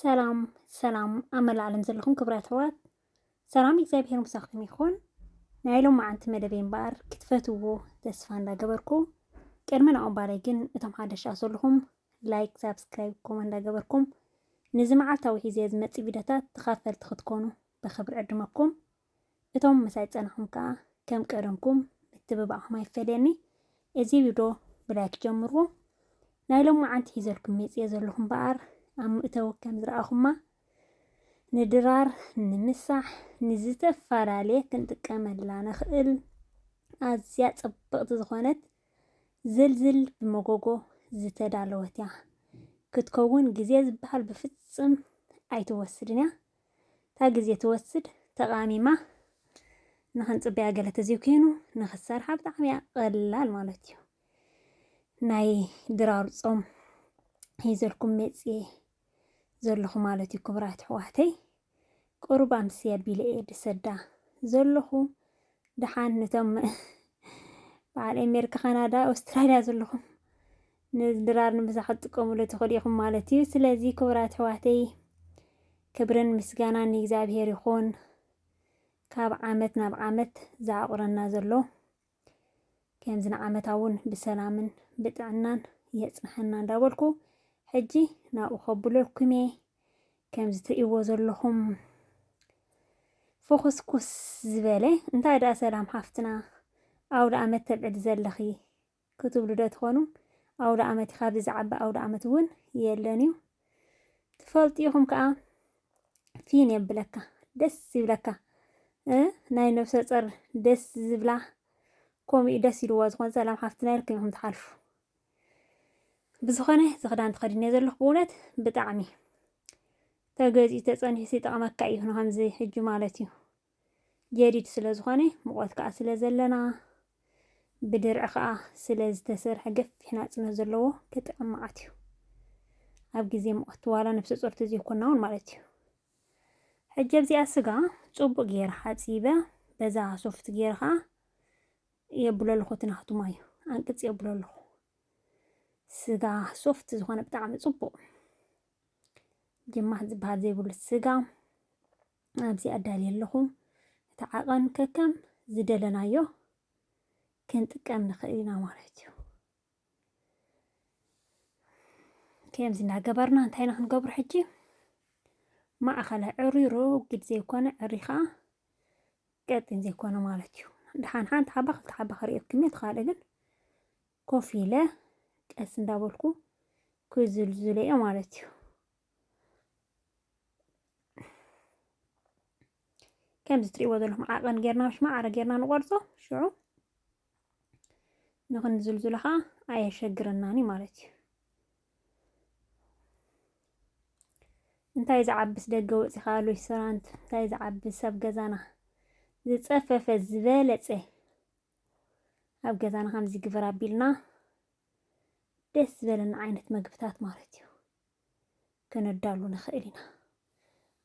ሰላም ሰላም ኣብ መላእ ዓለም ዘለኹም ክብራት ኣሕዋት ሰላም እግዚኣብሔር ምሳኹም ይኹን። ናይ ሎም መዓንቲ መደበይ እምበኣር ክትፈትዎ ተስፋ እንዳገበርኩ ቅድሚ ናኡ እምባለይ ግን እቶም ሓደሻ ዘለኹም ላይክ፣ ሳብስክራይብ፣ ኮመ እንዳገበርኩም ንዚ መዓልታዊ ሒዘ ዝመፅእ ቪድዮታት ተኻፈልቲ ክትኮኑ ብክብሪ ዕድመኩም። እቶም ምሳይ ዝጸናኹም ከኣ ከም ቀደምኩም ምትብባዕኩም ኣይፈለየኒ። እዚ ቪዶ ብላይክ ጀምርዎ። ናይ ሎማዓንቲ ሒዘልኩም መጽየ ዘለኹ እምበኣር ኣብ ምእተዊ ከም ዝረኣኹማ ንድራር ንምሳሕ ንዝተፈላለየ ክንጥቀመላ ንኽእል ኣዝያ ጽብቕቲ ዝኾነት ዝልዝል ብመጎጎ ዝተዳለወት እያ ክትከውን ግዜ ዝበሃል ብፍጽም ኣይትወስድን እያ። እታ ግዜ ትወስድ ተቃሚማ ንክንጽበያ ገለ ተዘይ ኮይኑ ንክትሰርሓ ብጣዕሚ እያ ቀላል ማለት እዩ ናይ ድራር ጾም ሒዘልኩም መጽየ ዘለኹ ማለት እዩ ክቡራት ኣሕዋተይ ቅሩብ ኣምሲ ኣቢለ እየ ድሰዳ ዘለኹ ድሓን ነቶም በዓል ኣሜሪካ ካናዳ ኣውስትራልያ ዘለኹም ነዚ ድራር ንምሳ ክትጥቀሙሉ ትኽእሉ ኢኹም ማለት እዩ። ስለዚ ክቡራት ኣሕዋተይ ክብርን ምስጋናን ንእግዚኣብሄር ይኹን። ካብ ዓመት ናብ ዓመት ዝዓቑረና ዘሎ ከምዚ ንዓመታ እውን ብሰላምን ብጥዕናን የጽንሐና እንዳበልኩ ሕጂ ናብኡ ከብለኩም እየ። ከምዚ ትርእይዎ ዘለኹም ፍኹስኩስ ዝበለ እንታይ ደኣ ሰላም ሓፍትና ኣውደ ኣመት ተብዕሊ ዘለኺ ክትብሉ ዶ ትኾኑ? ኣውደኣመቲ ካብዚ ዝዓቢ ኣውደኣመት እውን የለን እዩ። ትፈልጡ ኢኹም ከኣ ፊን የብለካ ደስ ይብለካ እ ናይ ነብሰ ጸር ደስ ዝብላ ከምኡ እዩ ደስ ኢልዎ ዝኾነ ሰላም ሓፍትና ኢልኩም ኢኹም ትሓልፉ። ብዝኾነ እዚ ክዳን ተኸዲነ ዘለኹ ብእውነት ብጣዕሚ ተገዚኡ ተጸኒሑ ይጠቕመካ እዩ ንከምዚ ሕጂ ማለት እዩ። ጀዲድ ስለ ዝኾነ ሙቐት ከኣ ስለ ዘለና ብድርዒ ከኣ ስለ ዝተሰርሐ ገፊሕ ናጽነት ዘለዎ ክጥዕም መዓት እዩ። ኣብ ግዜ ሙቐት ዋላ ነፍሰ ጾር ተዘይኮና እውን ማለት እዩ። ሕጂ ኣብዚኣ ስጋ ጽቡቕ ገይረ ሓጺበ በዛ ሶፍት ገይረ ከኣ የብሎ ኣለኹ እቲ ናቱ ማዩ ኣንቅጽ የብሎ ኣለኹ። ስጋ ሶፍት ዝኾነ ብጣዕሚ ጽቡቕ ጅማት ዝበሃል ዘይብሉ ስጋ ኣብዚ ኣዳልየ ኣለኹ። እቲ ዓቐን ከከም ዝደለናዮ ክንጥቀም ንኽእል ኢና ማለት እዩ። ከምዚ እናገበርና እንታይ ኢና ክንገብሮ ሕጂ ማእኸለ ዕሩይ ሮጊድ ዘይኮነ ዕሩይ ከዓ ቀጢን ዘይኮነ ማለት እዩ ድሓን ሓንቲ ሓባ ክልተ ሓባ ክሪኦኩም እየ ትካልእ ግን ኮፍ ኢለ ቀስ እንዳበልኩ ክዝልዝለ እየ ማለት እዩ ከምዚ ትሪእዎ ዘለኹም ዓቐን ጌርና ምስ ማዕረ ጌርና ንቖርጾ ሽዑ ንኽንዝልዝሎ ከዓ ኣየሸግረናን እዩ ማለት እዩ እንታይ ዝዓብስ ደገ ወፂኻ ሬስቶራንት እንታይ ዝዓብስ ኣብ ገዛና ዝፀፈፈ ዝበለፀ ኣብ ገዛና ከምዚ ግበር ኣቢልና ደስ ዝበለና ዓይነት መግብታት ማለት እዩ ከነዳሉ ንኽእል ኢና።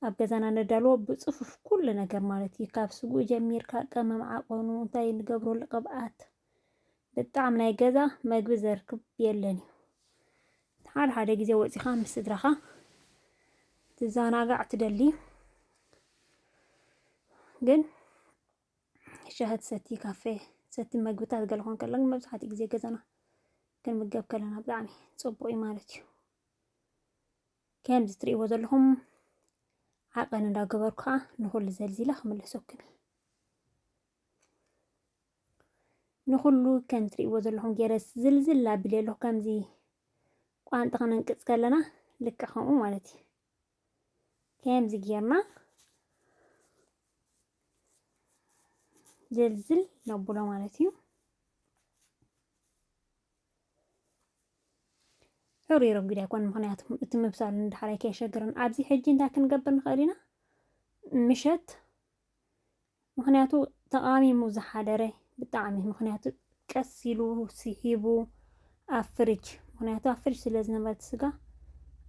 ኣብ ገዛና ነዳልዎ ብፅፉፍ ኩሉ ነገር ማለት እዩ። ካብ ስጉኡ ጀሚርካ ቀመም ዓቐኑ እንታይ ንገብረሉ ቅብኣት ብጣዕሚ ናይ ገዛ መግቢ ዘርክብ የለን እዩ። ሓደ ሓደ ግዜ ወፂኻ ምስ ስድራኻ ትዘናጋዕ ትደሊ ግን ሻሂ ትሰቲ፣ ካፌ ትሰቲ፣ መግብታት ገለ ኮን ከሎ ግን መብዛሕትኡ ግዜ ገዛና ክንምገብ ከለና ብጣዕሚ ፅቡቅ እዩ ማለት እዩ። ከምዚ ትሪእዎ ዘለኹም ዓቐን እንዳገበሩ ከዓ ንኹሉ ዘልዚለ ክምለሰኩም እዩ። ንኹሉ ከም ትሪእዎ ዘለኹም ገይረ ዝልዝል ኣቢለ ኣለኹ ከምዚ ቋንጣ ክንንቅፅ ከለና ልክዕ ከምኡ ማለት እዩ። ከምዚ ጌርና ዝልዝል ነብሎ ማለት እዩ። ሕሩይ ረጒድ ኣይኮን ምክንያቱ እቲ ምብሳሉ ንዳሕራይ ከየሸግርን ኣብዚ ሕጂ እንታይ ክንገብር ንኽእል ኢና ምሸት ምኽንያቱ ተቃሚሙ ዝሓደረ ብጣዕሚ ምኽንያቱ ቀስ ኢሉ ሲሒቡ ኣብ ፍርጅ ምኽንያቱ ኣብ ፍርጅ ስለ ዝነበረ እቲ ስጋ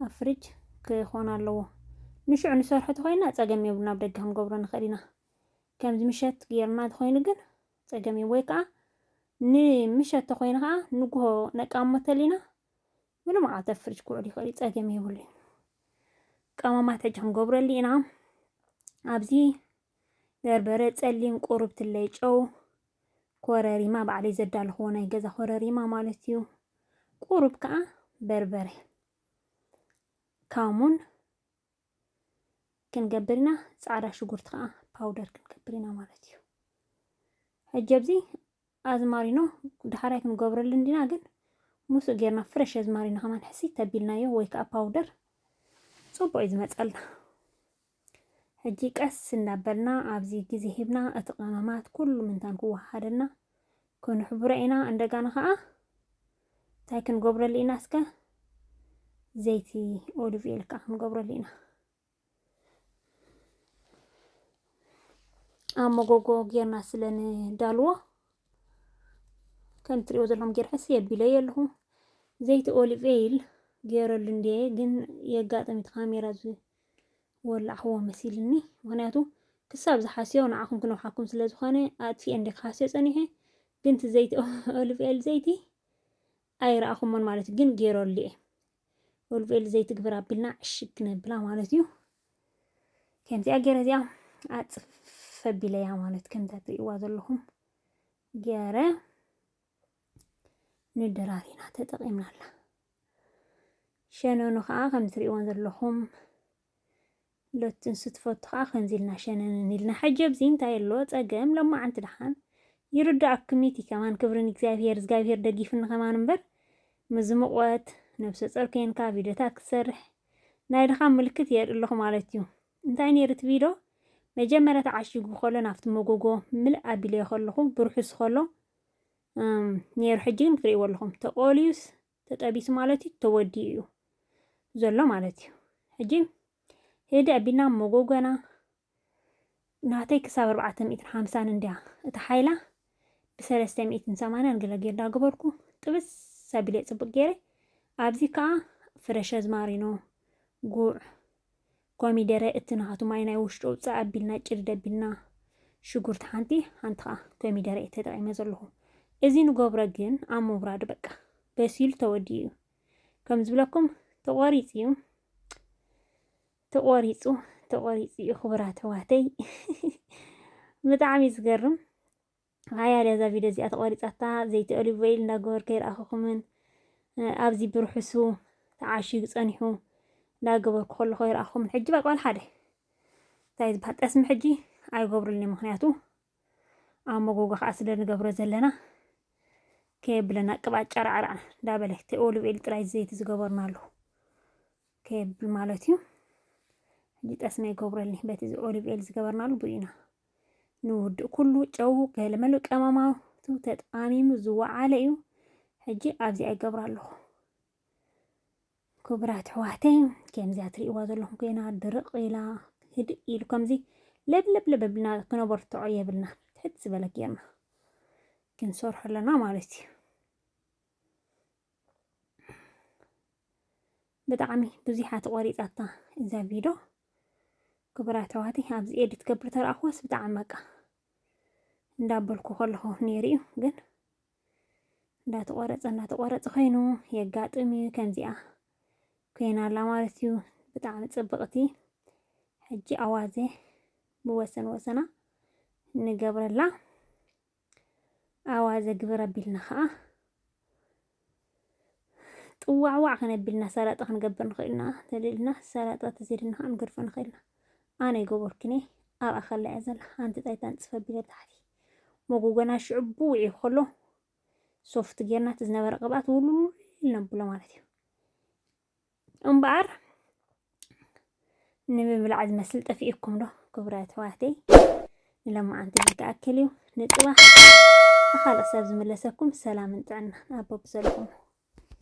ኣብ ፍርጅ ክኾን ኣለዎ ንሽዑ ንሰርሖ ተኾይና ጸገም የብሉን ኣብ ደገ ክንገብሮ ንኽእል ኢና ከምዚ ምሸት ጌርና ተኾይኑ ግን ጸገም እዩ ወይ ከዓ ንምሸት ተኾይኑ ከዓ ንጉሆ ነቃሞ ተሊና ምንም ዓት ኣብ ፍርጅ ክውዕል ይኽእል እዩ ጸገም የብሉን ቀመማት ሕጂ ክንገብረሉ ኢና ኣብዚ በርበረ ጸሊም ቁሩብ ትለይ ጨው ኮረሪማ ባዕለይ ዘዳልኽዎ ናይ ገዛ ኮረሪማ ማለት እዩ ቁሩብ ከዓ በርበረ ካሙን ክንገብር ኢና ጻዕዳ ሽጉርቲ ከዓ ፓውደር ክንገብር ኢና ማለት እዩ ሕጂ ኣብዚ ኣዝማሪኖ ዳሕራይ ክንገብረሉ እንዲና ግን ምስኡ ጌርና ፍረሽ ኣዝማሪኖ ከማን ሕሲ ተቢልናዮ ወይ ከዓ ፓውደር ፅቡቅ እዩ ዝመፀልና ሕጂ ቀስ እናበልና ኣብዚ ግዜ ሂብና እቲ ቀመማት ኩሉ ምንታን ክወሃደና ክንሕብሮ ኢና እንደጋና ከዓ እንታይ ክንገብረሉ ኢና እስከ ዘይቲ ኦሊቭ ኦይል ከዓ ክንገብረሉ ኢና ኣብ መጎጎ ጌርና ስለ ንዳልዎ ከም ትሪኦ ዘለኹም ጌር ሕስ የቢለ የለኹ ዘይቲ ኦሊቭ ኦይል ገይረሉ እንዴ ግን የጋጠሚት ካሜራ ወላዕኽዎ መሲልኒ ምክንያቱ ክሳብ ዝሓስዮ ንዓኹም ክነውሓኩም ስለ ዝኾነ ኣጥፊኤ እንደ ክሓስዮ ጸኒሐ ግን እቲ ዘይቲ ኦሊቭ ኦይል ዘይቲ ኣይረኣኹሞን ማለት እዩ ግን ገይረሉ እየ ኦሊቭ ኦይል ዘይቲ ግብር ኣቢልና ዕሽግ ክነብላ ማለት እዩ ከምዚኣ ገይረ እዚኣ ኣፅፍ ኣቢለያ ማለት ከምታ ትርእይዋ ዘለኹም ገይረ ንድራር ኢና ተጠቒምናላ። ሸነኑ ከዓ ከም ትሪእዎን ዘለኹም ሎትንሱ ትፈቱ ከዓ ከምዚ ኢልና ሸነንን ኢልና ሕጂ ኣብዚ እንታይ ኣሎ ፀገም ለማዓንቲ ድሓን ይርዳእኩም እቲ ከማን ክብርን እግዚኣብሄር እግዚኣብሄር ደጊፍኒ ከማን እምበር ምዝምቆት ነብሰ ፆር ኮንካ ቪድዮታት ክትሰርሕ ናይ ድኻም ምልክት የርኢ ኣለኹ ማለት እዩ እንታይ ነይሩ እቲ ቪድዮ መጀመርያ ተዓሺጉ ከሎ ናብቲ መጎጎ ምልእ ኣቢለዮ ከለኹ ብርሑስ ከሎ ነይሩ ሕጂ ግን ክትሪእዎ ኣለኹም ተቆልዩስ ተጠቢሱ ማለት እዩ ተወዲኡ እዩ ዘሎ ማለት እዩ ሕጂ ህደ ኣቢልና መጎጎና ናተይ ክሳብ ኣርባዕተ ሚእትን ሓምሳን እንድያ እቲ ሓይላ ብሰለስተ ሚእትን ሰማንያን ገለ ጌርዳ ገበርኩ ጥብስ ኣቢለ ፅብቅ ገይረ ኣብዚ ከዓ ፍረሸ ዝማሪኖ ጉዕ ኮሚደረ እቲ ናሃቱ ማይ ናይ ውሽጡ ኣውጽእ ኣቢልና ጭድ ደቢልና ሽጉርቲ ሓንቲ ሓንቲ ከኣ ኮሚደረ እየ ተጠቂመ ዘለኹ እዚ ንገብሮ ግን ኣብ ምውራዱ በቃ በሲሉ ተወዲኡ እዩ ከም ዝብለኩም ተቆሪጽ እዩ ተቆሪጹ ተቆሪጹ እዩ ክቡራት ኣሕዋተይ ብጣዕሚ ዝገርም ሃያ ለዛ ቪድዮ እዚኣ ተቆሪጻታ ዘይቲ ኦሊቭ ኦይል እንዳገበርኩ ኣይረኣኹኩምን ኣብዚ ብርሑሱ ተዓሺጉ ጸኒሑ እንዳገበርኩ ከለኹ ኣይረኣኹኩምን ሕጂ በቃ ዋላ ሓደ እንታይ ዝበሃል ጠስሚ ሕጂ ኣይገብሩልኒ ምክንያቱ ኣብ መጎጎ ከዓ ስለ ንገብሮ ዘለና ከየብለና ቅብኣት ጨራዕራዕ እንዳበለ እቲ ኦሊቭ ኦይል ጥራይ ዘይቲ ዝገበርናሉ ከየብል ማለት እዩ ሕጂ ጠስሚ ኣይገብረልኒ በቲ ኦሊቭ ኦይል ዝገበርናሉ ብኡ ኢና ንውድእ ኩሉ ጨው ገለመሉ ቀመማቱ ተጣሚሙ ዝወዓለ እዩ ሕጂ ኣብዚ ኣይገብራ ኣለኹ ክቡራት ኣሕዋተይ ከምዚያ ትርእይዋ ዘለኹም ኮይና ድርቕ ኢላ ህድእ ኢሉ ከምዚ ለብለብለብ ብልና ክነበርትዖ የብልና ትሕት ዝበለ ጌርና ክንሰርሖ ኣለና ማለት እዩ ብጣዕሚ ብዙሓ ተቆሪጻታ እዛ ቪዶ ክቡራት ኣሕዋት ኣብዚ ኤዲት ገብር ተረኣኽዋስ ብጣዕሚ በቃ እንዳበልኩ ከለኹ ነይሩ እዩ ግን እንዳተቆረፀ እንዳተቆረፀ ኮይኑ የጋጥም እዩ ከምዚኣ ኮይና ኣላ ማለት እዩ ብጣዕሚ ፅብቕቲ ሕጂ ኣዋዘ ብወሰን ወሰና ንገብረላ ኣዋዘ ግብር ኣቢልና ከኣ ጥዋዕዋዕ ከነቢልና ሰላጣ ክንገብር ንኽእል ኢና ተልልና ሰላጣ ተዘይድና ከኣ ንገድፎ ንኽእል ኢና ኣነ ይገበርኩኔ ኣብ ኣኸላ እያ ዘላ ሓንቲ ጣይታ ንጽፍ ኣቢለ ታሕቲ መጎጎና ሽዑ ብውዒ ከሎ ሶፍት ጌርና እቲ ዝነበረ ቅብኣት ውልውል ነብሎ ማለት እዩ እምበኣር ንምብላዕ ዝመስል ጠፊኡኩም ዶ ክቡራት ኣሕዋተይ ንሎማዓንቲ እዚ ክኣክል እዩ ንፅባሕ ብኻልእ ክሳብ ዝምለሰኩም ሰላምን ጥዕናን ኣብ በብዘለኹሞ